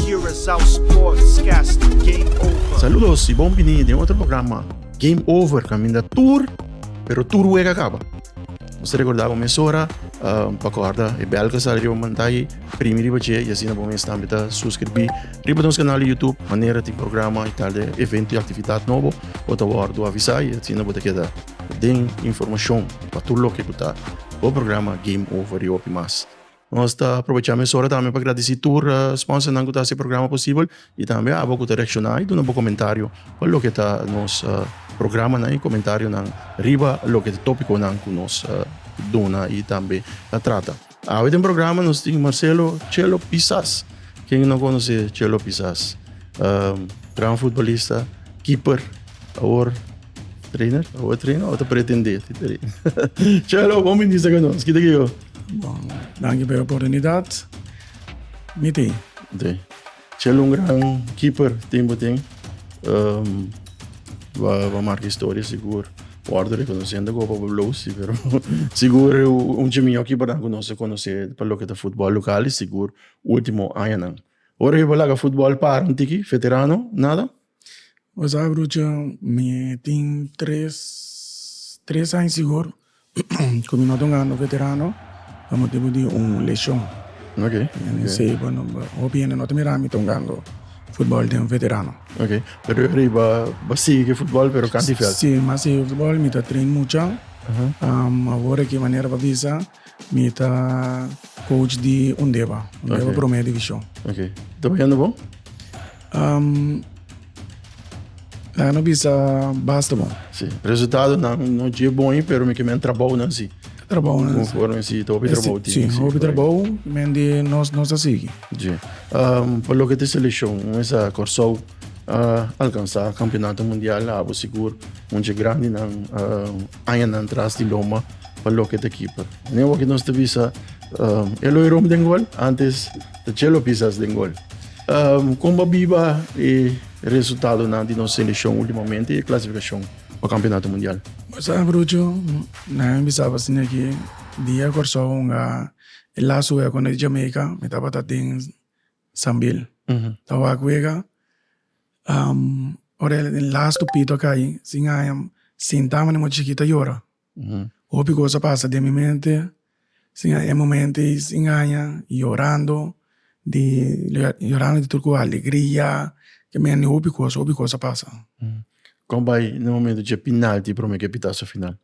Curaçao Sportscast Game Over. Saludos y bon bini den otro programa Game Over caminda tur pero tur wega caba. Nos recorda bo mesora uh, pa corda e bel que sale riba mantai primi riba che y asina bo mes tambi ta suscribi riba nos canal YouTube manera ti programa y tal de evento y actividad nobo bo ta wordo avisa y asina bo ta queda den informacion pa tur lo que kuta bo programa Game Over y opi mas. Nos ta aprobecha mesora tambe pa gradisi tur sponsornan ku ta hasi e programa posibel i tambe abo ku ta reakshona i duna bo komentario pa loke ta nos programanan i komentarionan riba loke ta topikonan ku nos duna i tambe ta trata. Awe den programa nos tin Marcelo Chelo Pisas. Ken no konos'é Chelo Pisas? Gran futbolista, keeper, awor trainer, awor e traina awor ta pretendé ti traina. Chelo, bon bini sa ka nos. Kita ke yo? Bon, danki pa e oportunidat. Mi tin. Te. Chel un gran keeper tin bo tin. Um, va, va marca historia sigur. Worde reconocendo go pa Blues, sí, pero sigur un chi mio keeper dan conoce conoce pa lo que ta fútbol local y sigur último añanan. Ora yo pa laga fútbol para un tiki, veterano, nada. Bo sa brucha, mi tin tres tres aña sigur ku mi no ta un grandi veterano pa motibu di un leshon oke esei bo no hopi hende no ta mira mi ta un grandi futbol den veterano oke pero yu a rei bo a sigui futbol pero kantu di vèlt si mi a sigui futbol mi ta train mucha awor a ke manera bo a bisa Mi ta coach di Undeba, Undeba Ok. Prome Divishon. Ok. Ta bañando bon? Um, laga no bisa basta bon. Si. Resultadonan no dje bon ei, pero mi ke men trabounan si. Trabounan si. Conforme si, ta hopi trabou tin. Si, hopi trabou, men di nos, nos ta sigui. Dje. Um, pa loke ta selekshon, mesa Kòrsou a alkansá Kampionato Mundial, a habo sigur un dje grandinan, um, Añanan tras di loma pa loke ta keeper. Ne awor ki nos ta bisa um, e lo e rom den gol, antes ta chelo pisas den gol. Um, komba biba e resultadonan di nos selekshon ultimamente e klasifikashon pa Kampionato Mundial. Sa brucho, nan bisaba si neki dia Kòrsou hunga e laatste wea kontra di Jamaica, mi tabata den Sambil ta wak wega ora el den las tupito a kai sin haña sinta manera mochi chikito a yora hopi cos a pasa den mi mente sin haña e momento ei sin haña yorando di yorando di tur cu alegria ke men di hopi cos hopi cos a pasa. Con bay na momento dje pinalti promer ke pitaso final?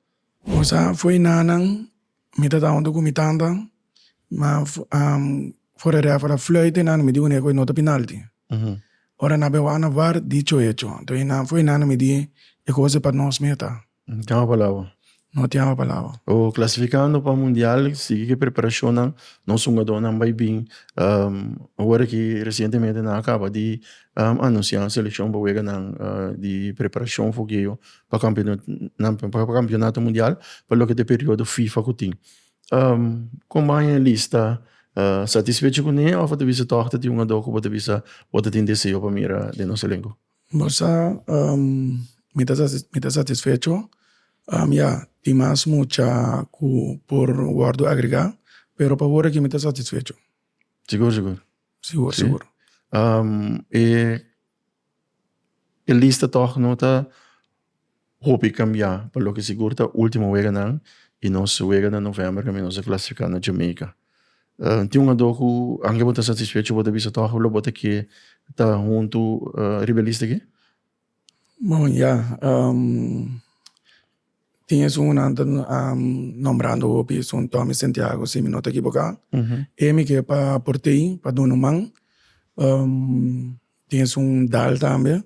Bosa fo'i nanan. Mi ta tamba hopi ku mi tanta, ma for e ref ora fluit e nana mi di uneku e nota pinalti. Ora nan a bin wak na var di cho hecho. Anto e nan foi nana mi di e kos e pa nos meta. No tin aba palabra. No tin aba palabra. O klasifikando pa mundial sigui ki e preparashonnan nos hungadónan bai bin. Awor aki resientemente nan a kaba di anunsiá selekshon pa wega nan di preparashon fogheo pa kampionato mundial pa loke ta e periodo fifa ku tin kon bo a haña e lista satisfecho kuné òf a ta bisa tòg ta tin un ador ku bo ta bisa bo ta tin deseo pa mira den nos elenko? Bo sa mi ta mi ta satisfecho ya tin mas mucha ku por wòrdu agregá pero pa wor aki mi ta satisfecho. Sigur sigur? Sigur sigur. E E lista tog no ta hopi kambia pa loke sigur ta ultimo weganan i nos wega na november kaminda nos a klasifiká na Jamaica. Tin un ador ku anke bo ta satisfecho bo ta bisa tog loke bo ta ke ta huntu riba e lista aki? Bon, ya. Tin esun un ante nombrando hopi esun Tommy Santiago si mi no ta ekiboká. E mi ke pa aport'ei pa duna un man. Tin esun Dal tambe.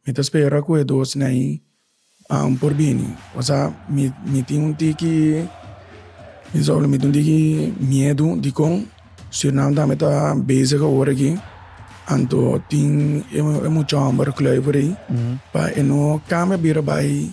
Mi ta spera ku e dosnan ei por bini. Pasá mi tin un tiki mi sa wla mi tin un tiki miedu dikon Surinam tambe ta bezig awor aki anto tin e mucha hòmber, Kluivert ei pa e no kambia bira bai.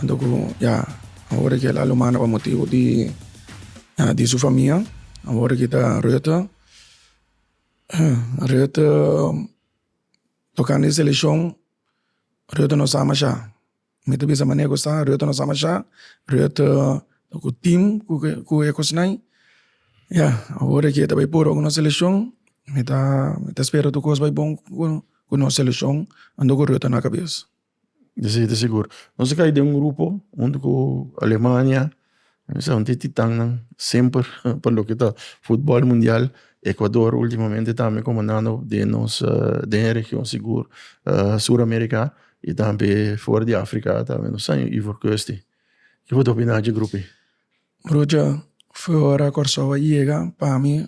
Anto ku ya a worde ke la lo manda pa motibu di di su famia a worde ke ta Rutte Rutte tokante e seleshon Rutte no sa masha mi ta bisa manera ku sa Rutte no sa masha Rutte ku tim ku ke ku e kosnai ya a worde ke ta bai puru ku no seleshon mi ta mi ta spera tur kos bai bon ku ku no seleshon anto ku Rutte na kabes. Si ta sigur. Nos a kai den un grupo huntu ku Alemania esaki e titan nan semper pa loke ta futbol mundial Ekuador ultimamente tambe komandando den nos den e region sigur Sur Amerika i tambe for di Afrika tambe nos sa Ivoorkusti kico ta opina dje grupi. Brucha fo ora Kòrsou a yega pa mi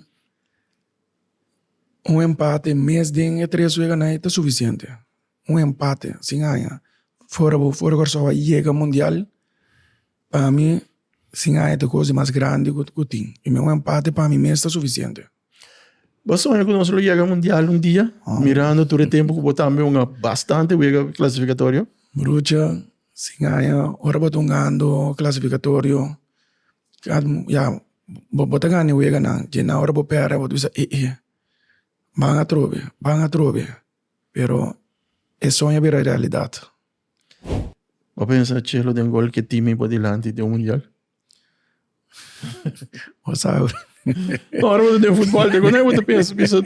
un empate mes den e tres weganan ta sufisiente. un empate sin aña fora bo fora Kòrsou a yega mundial pa mi sin aña ta kos di mas grandi ku tin i un empate pa mi mes ta sufisiente. Bo soña ku nos lo yega mundial un dia mirando tur e tempu ku bo tambe un bastante wega klasifikatorio? Brucha, sin aña ora bo ta un gando klasifikatorio ya bo ta gana e weganan dje nan ora bo pèrdè bo ta bisa e'e ban atrobe ban atrobe. Pero e soño a bira realidad. Bo a pensa Chelo den gol ke timi bo dilanti den un mundial? Bo sa awe. Ora bo ta den futbol te kuné bo ta pensa bisa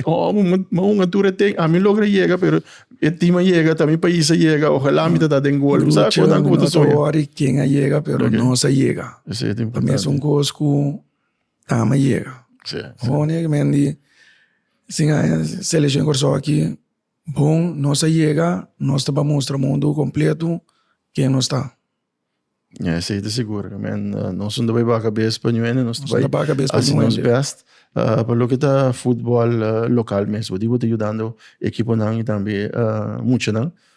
ma un atura e teken ami logra yega pero e tim a yega ta mi pais a yega ojalá mi ta ta den gol. Bo sa awe nan ku bo ta soña. No ta wori ken a yega pero nos a yega. Esei ta importante. Mester un kos ku Tama yega honorablemente si aña seleccion Kòrsou aki bon nos ta yega nos ta mustra mundu completo ken nos ta. Ya esei ta sigur nos no ta bay baga cabes pa ñu ende nos ta bay haci nos best pa loke ta football local mesmo di bo ta yudando ekiponan y tambe muchanan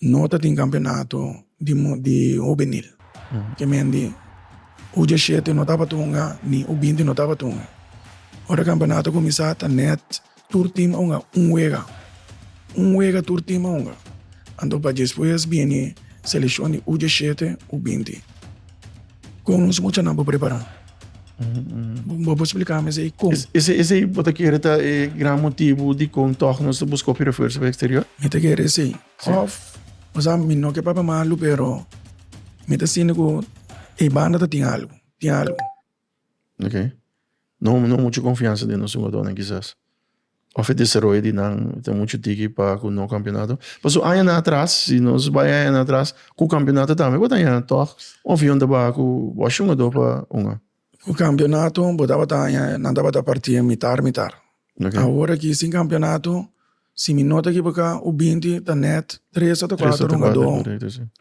No ta tin campeonato di hobenil. Kemen di U diashete no taba tunga ni U binti no taba tunga. Ora campeonato cuminsa ta net tur team a hunga un wega. Un wega tur team a hunga. Anto pa despues bini seleccion di U diashete, U binti. Con nos muchanan bo prepara? Bo bo explica mi sei con. Ese ese bo te kere ta e gran motivo di con toch nos te busco pi refuerzo pa exterior? Mi te kere sei. Of, o sea, mi no ke papia malu pero mi te sinti cu e banda ta tin algo, tin algo. oke no no mucho confiansa den nos jugadornan kisas of e desaroyo di nan ta mucho tiki pa cu no campeonato pasobra añanan atras si nos bai añanan atras cu campeonato tambe bo ta aña tog of yon ta baha cu bosh jugador pa hunga. Cu campeonato bo tabata aña nan tabata parti en mita mita awor aki sin campeonato si mi no ta ekiboca ho binti ta net tres ota cuatro jugador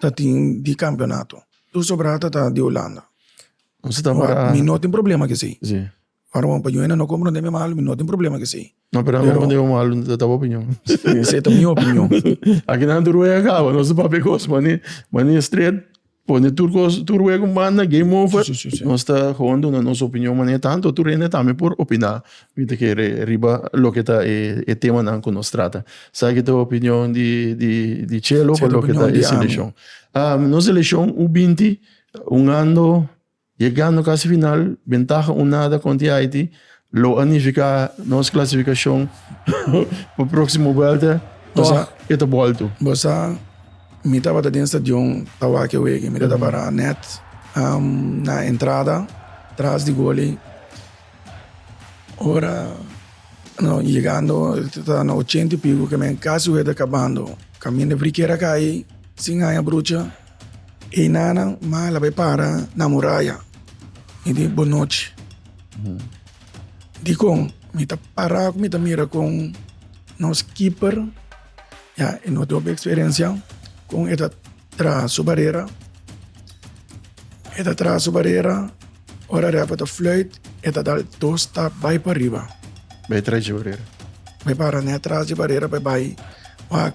ta tin di campeonato tur sobrada ta di Hulanda. Nos ta tabata Ora, mi no tin problema cu esey. si Ora bo pa Juena no comprende mi malo, mi no tin problema cu esey. no pero Pero- comprende bo malo ta bo opinion Esey ta mi opinion. aki nan tur wey a caba nos ta papia cos mane mane straight pone tur cos tur wey cu banda game over Si, si, si, si. nos ta gewoon duna nos opinion mane tanto tur hende tambe por opina mi ta kere riba loke ta e e temanan cu nos trata sa ki ta opinion di di di Chelo Sa pa ta loke ta opinion di e ami. seleccion ah nos seleccion u binti Ungando, yegando casi final, bentaha un nada conti Haiti, lo a nifica nos clasificacion pa proximo welta, tog e ta bolto. Bo sa, mi tabata den stadion pa wak e wege, mi ta ta para net na entrada tras di goli, ora no yegando ta ta na ochenta y pico, kemen casi weta cabando, caminda Briquera cay sin haya brucha. E nanan mala bay para na muraya y di bo nochi dicon mi ta para cu mi ta mira con nos keeper ya y nos dobe experiencia con e ta traha su barera e ta traha su barera ora refa ta fluit e ta dal dos stap bay pa riba bay para net tras di barera bay bay wak.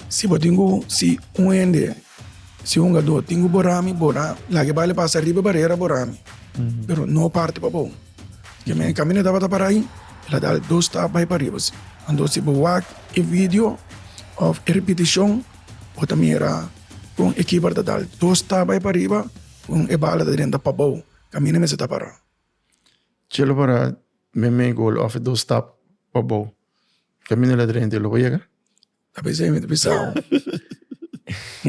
Si bo tin ku si un hende, si hungadó tin ku bora mi, bora laga bal e pasa riba e barera bora mi, pero no parti pa bo. Ke men kaminda e tabata para ahi, el a dal dos stap bai pariba si. Anto si bo wak e vidio òf e ripitishon bo ta mira kon e kiper ta dal dos stap bai pariba kon e bal a ta drenta pa bo kaminda mester ta para. Chelo para mi mei gol òf e dos stap pa bo. Camino de la Treinta lo bo yega? A pesar mi ta pisao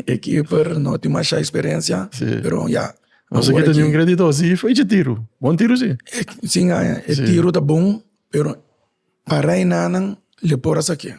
e keeper no tin masha experiencia pero ya. Bo sa kita un gradi dos y fai dje tiro, bon tiro si. Si ngaña e tiro ta bon pero pa Reinanan le por a sakié.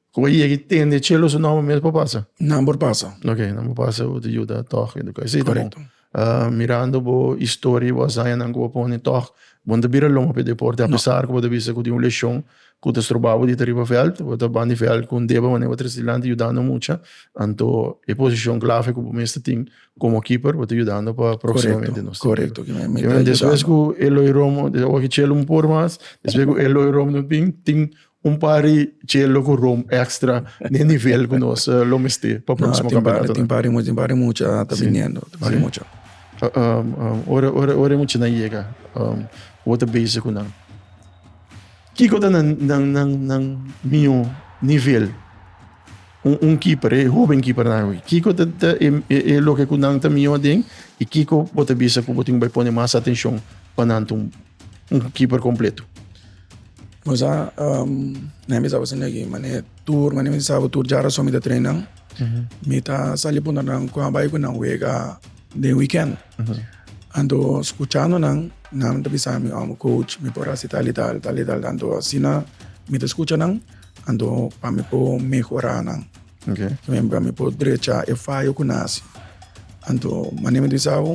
Cu a yega y tende e cielo su nomber mes por pasa? Nan por pasa. Ok, nan por pasa bo ta yuda toch educa. Asina ta bon. Correcto. Ah, mirando bo historia y bo hazañanan cu bo a pone toch bo no ta bira loma pa e deporte a pesar cu bo ta bisa cu tin un lesion cu ta stroba bo di ta riba veld. Bo ta ban di veld cu un deba manera bo ta trece dilanti yudando mucha. Anto e posicion clave cu bo mes ta tin como keeper bo ta yudando pa proximamente nos tin keeper. Correcto. Despues cu Eloy Romo, awo cu e cielo un por mas, despues cu Eloy Romo no tin, tin un par di chelo cu rom extra ni e nivel cu nos eh, lo mesti pa próximo no, campeonato. Tin pari mucho, tin pari mucho uh, ah, ta sí. viniendo, tin pari sí. mucho. Uh, um, um, ora, ora, ora mucho na llega, um, wat a bezig cu nan. Kiko ta nan, nan, nan, nan mio nivel? Un, un keeper, eh, joven keeper na hoy. Kiko ta, ta e, e, e lo que cu nan ta mio den, y Kiko wat a bezig cu botin bay pone más atención pa nan un, un keeper completo. Nos a na hende tabata sinti aki mane tur mane mi ta sabo tur djara so mi ta trainan mi ta sali punta nan con a bai cu nan wega den weekend anto scuchando nan nan ta bisa mi oh coach mi por haci tal y tal tal y tal anto asina mi ta scucha nan anto pa mi por mehora nan pa mi por drecha e fayo cu nan haci anto mane mi ta bisa bo.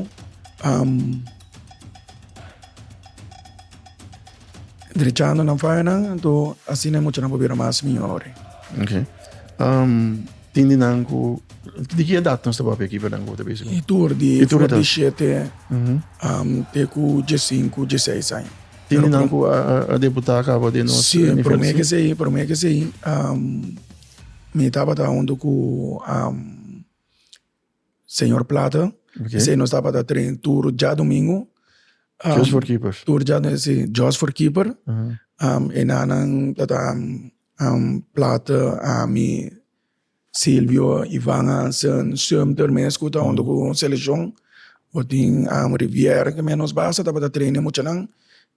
Drechando nan fayanan, anto asina e muchanan por bira mas mihor. Ok. Um, tin di nan ku di ki edad nos ta papia aquí verdad ku ta basic? E tur di e tur di 7 mm -hmm. um, te ku 15, 16 años. Tin di nan ku a, a, a deputada acaba de nos Sí, eh, por mí que sí, por mí que sí. Um, mi tabata junto ku um, Señor Plata. Okay. Esei nos tabata train tur dja domingo. Um, Just for keepers. Tur dja si, just for keeper. Uh -huh. um, enanan tata um, um, Plata, ami, Silvio, Ivan Hansen, Sumter mes ku ta hondo uh -huh. ku seleccion. Botin um, Rivière ke menos basa tabata train e muchanan.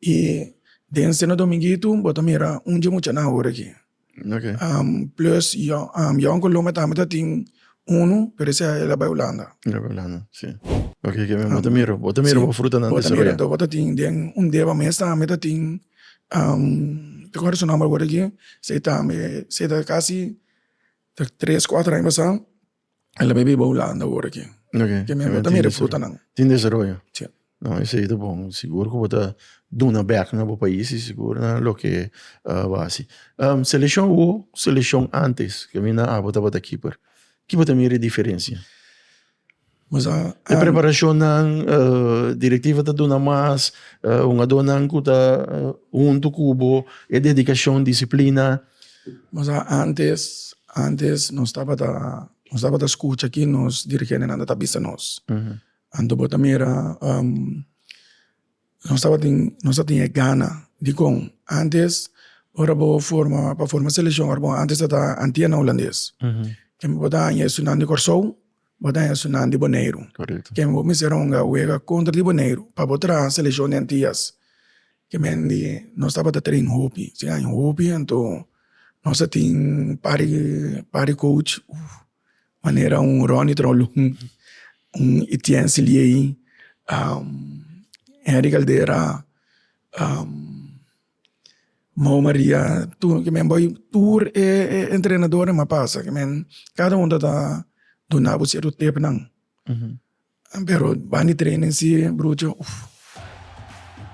I den sena dominguito bo ta mira un dje muchanan ora ki. Okay. Um, plus Jan, um, Jan cu Lome tambe ta tin uno, pero ese el a bay Holanda. El a bay Holanda, sí. Okay, que um, bota miro, bota miro sí, fruta nan desarrollo. Bota bota tin den un deba mes tambe ta tin um, te acuerdo su nombre ahora aquí, se tambe, se ta casi ta tres, cuatro aña pasado. El a biba Hulanda awor aki. Okay. Ke mi amigo ta mira e frutanan. Tin desaroyo. Si. No, esei ta bon. Sigur ku bo ta duna bèk na bo pais i sigur na loke bo a hasi. Seleshon hu ku seleshon ántes ku mi na abo tabata kiper, ki bo ta mira e diferensia? E preparashonnan, direktiva ta duna mas, hungadónan ku ta huntu ku bo, e dedikashon, disiplina. Nos a antes antes nos tabata nos tabata skucha ki nos dirigentenan ta bisa nos anto bo ta mira nos tabatin nos tabatin e gana dikon antes ora bo forma pa forma selekshon ora bo antes ta antiena hulandes kèn bo ta haña estudiantenan di kòrsou. Bo ta hèr su nan di Boneiru. Kèn bo mester honga wega kontra di Boneiru pa bo traha selekshon di Antias? Ke men di nos tabata train hopi. Si haña hopi anto nos a tin par di par di coach manera un Ronny Trolong, un Etienne Siliei, Henry Caldera, Mou Maria tur kimen bai tur e e entrenadornan a pasa kimen kada un ta ta dunabo cierto tepnan pero bani training si brucho uf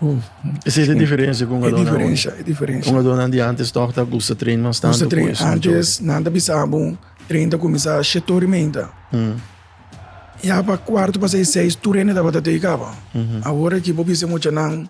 uf esei ta e diferencia cu un alor na awe e diferencia un alornan di antes tok ta gusta train mas tanto cu es na djor antes nan ta bisa bo train ta cuminsa shet ora y meinta ya pa cuarto pasai seis tur hende tabata tei caba awor aki bo bisa muchanan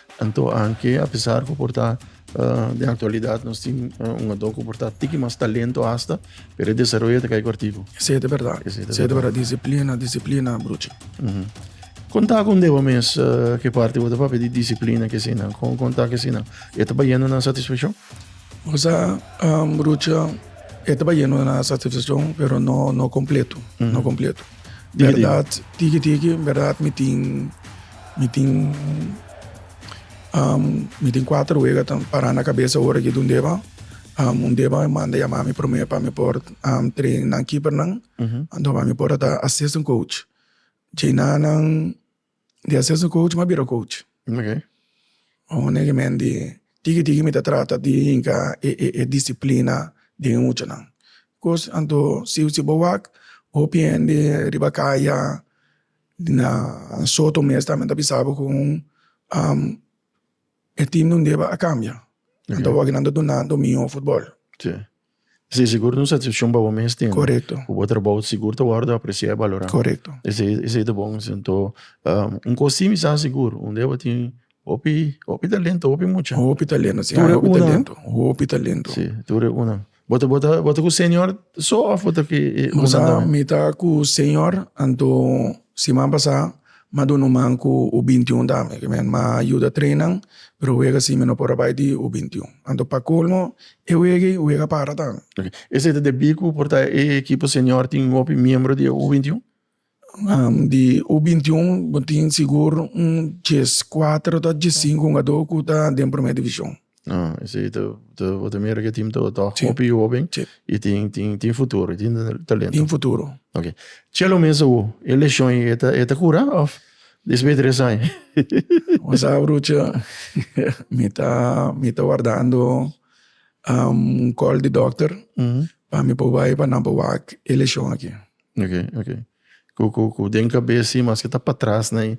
Anto anke apesar ku por ta den aktualidat nos tin un hadó ku por ta tiki mas talento hasta, pero e desaroyo ta kai kòrtiku. Esei ta bèrdat. Esei ta bèrdat. Disiplina, disiplina, bruchi. Kon ta ku un deba mes ke parti bo ta papia di disiplina ke eseinan? Kon kon ta ku eseinan e ta bayendo na satisfakshon? Kusá bruchi e ta bayendo na satisfakshon pero no no kompleto, no kompleto. Bèrdat tiki tiki bèrdat mi tin. Mi tin um mi tin kuater wega ta pará na kabesa ora ke dundeba um undeba manda yamá mi promé pa mi por um train nan kipernan anto pa mi por ta assistant coach. Djina nan di assistant coach mi a bira coach. Honestamente tiki tiki mi ta trata di yinka e e e disiplina den e muchanan. Kos anto siu si bo wak hopi hende riba kaya. Na Sâo Tomé esnan tambe ta bisa bo ku e tim nan deba a kambia, nan ta wak nan ta duna domingo futbòl. Si, si sigur ta un satisfakshon pa bo mes tin. Korekto. Ku bo trabou sigur ta wòrdu apresiá i balorá. Korekto. Esei, esei ta bon. Enton, un kos simis sa sigur, un deba tin Hopi hopi talento hopi mucha. Hopi talento si hopi talento hopi talento. Si tur e unan. Bo ta bo ta bo ta ku señor so of bo ta ku e unan tambe? Mi ta ku señor anto siman pasa mi a duna un man ku u binti un tambe ke men mi a yuda train nan pero wega si mi no por a bai di u binti un anto pa colmo e wega ei wega para tambe. Esei ta debí ku por ta e ekipo señor tin hopi miembro di e u binti un? Di u bintiun bo tin sigur un djes kuater ta djes sinku hungadó ku ta den Primera Divishon. Esei ta bo ta mira ku e tim ta hopi hoben i tin futuro, tin talento. Tin futuro. Ok. Chelo mes awo e leshon ei e ta kura òf despues di tres aña? Bo sa brucha, mi ta mi ta wardando un kòl di dòkter pa mi por bai pa nan por wak e leshon aki. Oke oke ku ku ku den kabes si maske ta patras na i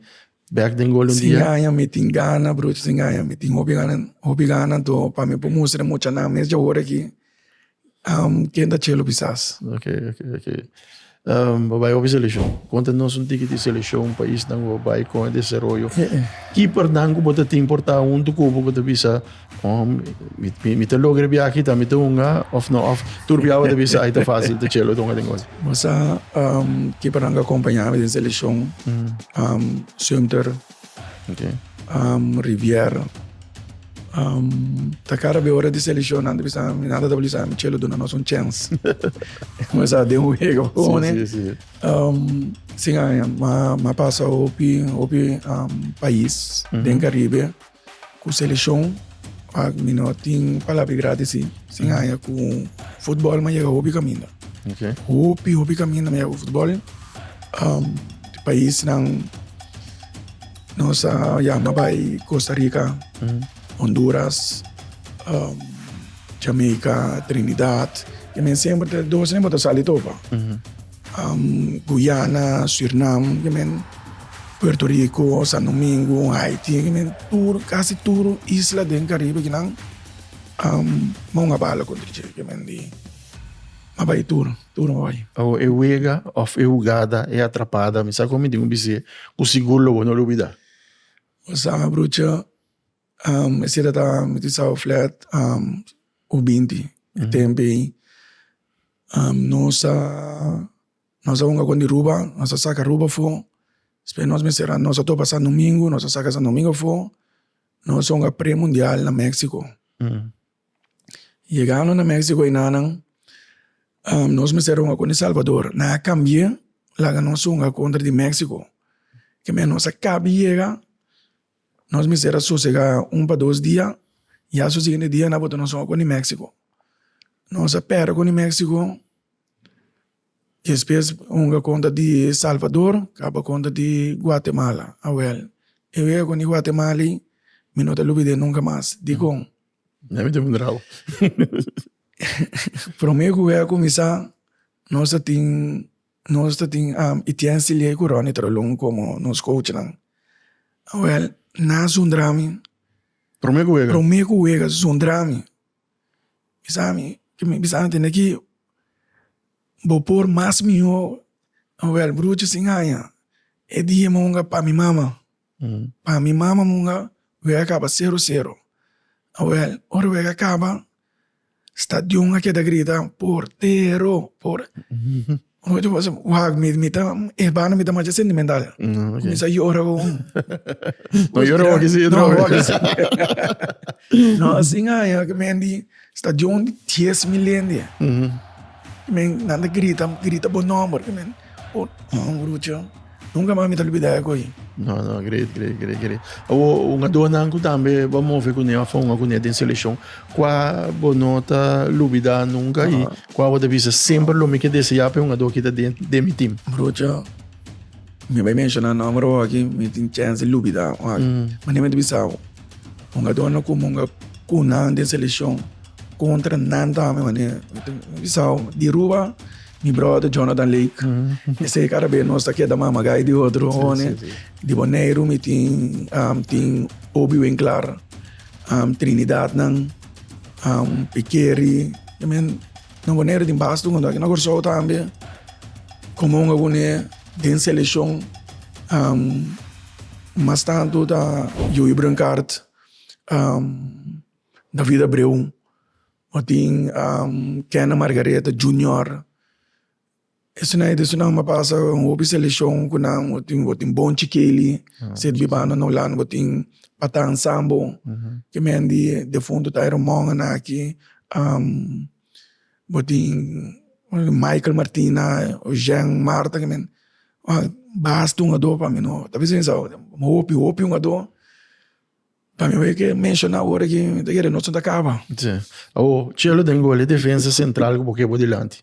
bek den gol un dia. Sin aña mi tin gana broer sin aña mi tin hopi gana hopi gana anto pa mi por mustra e muchanan mes dje ora aki ken ta chelu bisas. Oke oke oke bo bai hopi seleshon konta nos un tiki di seleshon paisnan ku bo bai kon e desaroyo kipernan ku bo ta tin por ta huntu kubo ku ta bisa. Om, mi, mi, mi te logra bia aki, ta mi te hunga, of no, of turbia wata bisa, ai te fácil, te chelo, te hunga den cosa. Mas a, um, ki para nga acompaña mi den selección, mm. um, Sumter, okay. um, Riviera, um, ta cara be hora de selección, nada bisa, mi nada ta bisa, mi chelo duna nos un chance. Mas a den un hego, sí, sí, sí. Um, sin aña, ma, ma pasa opi, opi, um, país, mm -hmm. den Caribe, Ku selekshon mi no tin palabra i grati si, sin haña ku futbòl mi a yega hopi kaminda. Hopi, hopi kaminda mi a yega ku futbòl. Di paisnan nos a yama bai Kosta Rika, Honduras, Jamaica, Trinidad. E men semper ta dos, no ta sali topa. Guyana, Surinam, Puerto Rico, San Domingo, Haiti, tur casi tur isla den Caribe aki nan mou a bala contra dje di a bay tur tur a bay. Awo e wega of e hugada e atrapada mi sa cu mi tin cu bis'e cu sigur lo bo no lo bida. Bo sa brocha. E sera ta miti South Flat o binti e tempo ei nos a nos a hunga kon di ruba nos a saka ruba afo despues nos mester a nos a topa San Domingo nos a saka San Domingo afo nos a hunga pre mundial na Mexico yegando na Mexico ei nanan nos mester a hunga kon di Salvador nan a cambie laga nos hunga contra di Mexico keme nos a kabi yega Nos mester a sosega un pa dos dia, ya su siguiente dia na bota nos oko di Mexico. Nos a pera con di Mexico, despues hunga conta di Salvador caba conta di Guatemala, awel e wega con di Guatemala y mi no ta lubide nunca mas, dicon? Prome cu wega cuminsa nos a tin Nos ta tin Am y Tian Cilie cu Ronnie Trolong como nos coachnan. Awel, na Sundrami. Prome cu wega? Prome cu wega Sundrami. Bisami, cu mi bisami tene aki, bo por mas miho. Awel, bruchi sin haña. E dia me hunga pa mi mama. Pa mi mama munga wega kaba sero sero awel ora wega kaba stadion a keda grita portero por wak mi ta ebana mi ta masha sentimental kumisa yora gon no yora hoki si drobe no asin aña kimendi. Stadion di dies mil hende men nan ta grita grita bo nomber men oh brucho nunca mas mi ta olbida e koye. No, no, great, great, great, great. Awo, un adonan ku tambe ba move ku ne, ba fonga ku ne den selekshon. Kua bo no ta lubida nunka i kua bo ta bisa semper lo mi ke deseá pa e hungadó ki ta den den mi tim? Brucho, mi bai menshona nomber awor aki, mi tin chèns di lubida awor aki. Mane mi ta bisa bo? Hungadornan ku munga ku nan den selekshon kontra nan tambe manera mi ta bisao di Ruba mi brother Jonathan Lake esei kada bes nos ta keda mamagay di otro one di Boneiru mi tin tin Oby Winklar Trinidadnan Pikeri. Nan Boneiru tin basta un hundraki na Kòrsou tambe komo un oponè den selekshon mas tantu ta Yoyo Brinkaart David Abreu tin Kenneth Margareta Junior Esuna e desunan a pasa un hopi selekshon ku nan bo tin bo tin bon chikeli sirbi banda na Hulanda bo tin Patan Sambo ke men di defuntu Tayron Mongen aki bo tin Michael Martina Ozheng Marta ke men basta hungadó pa mi no ta bisa pensa awor hopi hopi hungadó pa mi awor ke menshona awor aki ta kere nos no ta kaba. Awor chelo den gol e defensa sentral ku bo ke bo dilanti.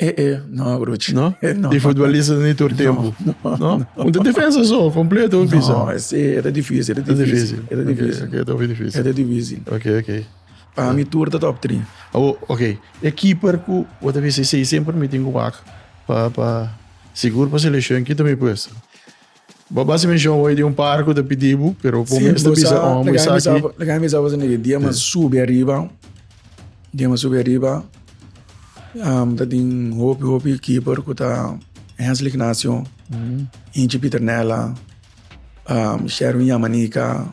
E e no abrochi. No? Di futbolistas ni tur tempu. No. Un ta defensa so, kompleto un pisa. No, ese era difícil, era Ta difícil. difícil, era Ok, difícil, ok, ta hopi difícil. era difícil. Ok, ok. Pa mi tur ta top 3. Awo, ok, e keeper ku bo ta bisa i sei semper mi tin ku wak pa pa sigur pa selekshon, kin ta mi puesta? Bo basi menshon hoy di un par ku ta pidi bo, pero bo mes ta bisa ora bo esaki. Lo ke a bisa bo sende ke dia mi a subi ariba, dia mi a subi ariba ta tin hopi hopi keeper ku ta Hensel Ignacio, Inchi Pieternella, Sherwin Yamanica,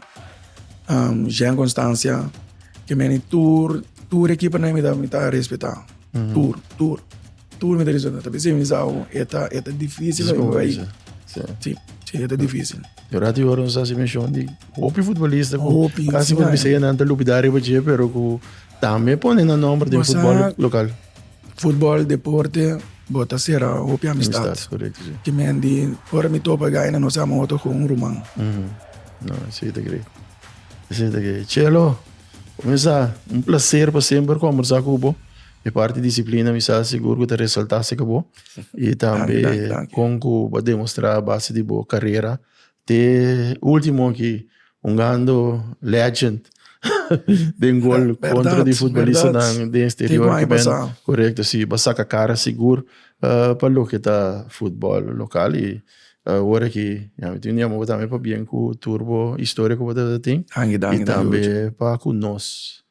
Jean Constancia, ke meni tur tur e keepernan mi ta respeta. Tur, tur. Tur mi ta diciendo, ta bisa mi sa un eta, eta difícil en mi ahí. Sí. Sí, sí, eta difícil. Yo rato yo no sa si mención di hopi futbolista ku Hopi, casi sí, por ay. bisa ya nan ta lupidar riba je, pero ku tambe pone na nombre di Bo sa- fútbol local. Fútbol, deporte, bota será hopi amistad. Amistad, correcto, sí. Que men di, ora mi topa gai na no sa motor con un ruman. Ujú. No, sí, te cree. Sí, te cree. Chelo, Kome sa? Un placer pa semper combersa cu bo. E parti disciplina mi sa sigur cu ta resalta si ca bo y tambe con cu bo a demostra base di bo carera te ultimo aki hungando legend den gol contra di futbolistanan den exterior cu bendo. Corecto si bo a saca cara sigur pa loke ta futbol local y Ora ki ya mi tin un yama bo tambe pa bien ku tur bo historia ku bo ta tin i tambe pa ku nos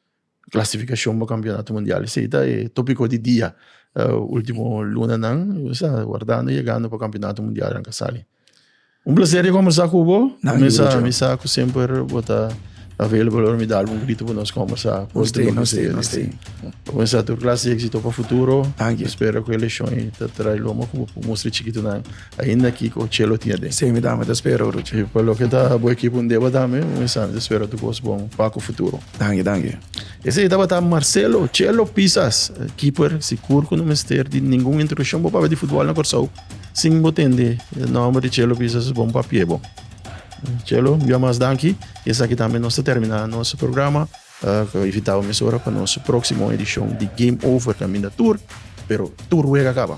klasifikashon pa kampionato mundial esei ta e topiko di dia ultimo lunanan nos ta wardando yegando pa kampionato mundial nan ka sali un plaser di kombersá ku bo mi sa ku semper bo ta available ora mi dal un grito pa nos kombersá bo wensa tur klas di éksito pa futuro mi spera ku e leshon ei ta trae lo mo ku bo mustra e chikitunan. Ainda Kiko chelo tin aden. Semi dame ta spera ora chi pa loke ta bo ekipo un deba dame un esami ta spera tur kos bon pa ku futuro. Danki danki. Esei tabata Marcelo Chelo Pisas, keeper, sikur ku no mester di ningun introdushon bo papia di futbòl na Kòrsou sin bo tende e nòmber di Chelo Pisas es bon pa pie bo. Chelo, un bia mas danki. Esaki tambe nos ta terminá nos programa. Ku invitá bo mesora pa nos próksimo edishon di Game Over kaminda tur, pero tur wega kaba.